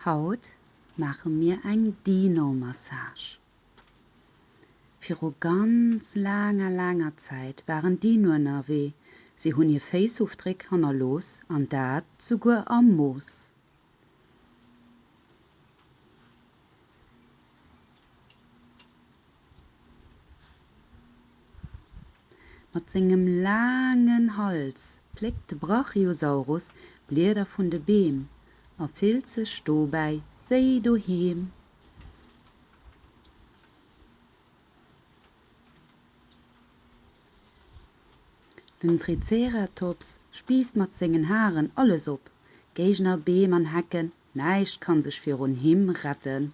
Haut maache mir eng Dino-Massage. Viru ganz laanger, laanger Zäit waren Dinoen ënnerwee. Si hunn hir Féissofdréck hannerlooss, an dat souguer am Mooss. Mat sengem laangen Hals pléckt de Brachiosaurus Blieder vun de Beem a fillt sech dobäi wéi doheem. Den Triceratops spiisst mat sengen Haren alles op, Géigner, Beem an Hecken, näischt kann sech virun him retten.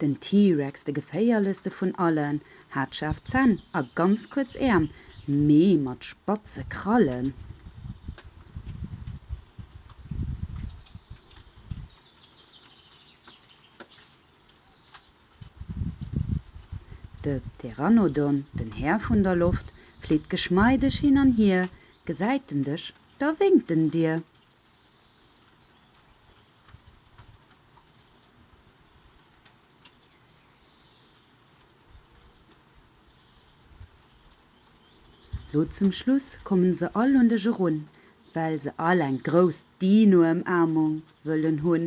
Den T-Rex, de geféierlechste vun allen, hat schaarf Zänn a ganz kuerz Äerm, mee mat spatze Krallen. De Pteranodon, den Här vun der Loft, flitt geschmeideg hin an hier, gesäit en dech, da wénkt en dir. Lo zum Schluss kommen se all un dech erun, well se all eng grouss Dino-Ëmaarmung wëllen hunn.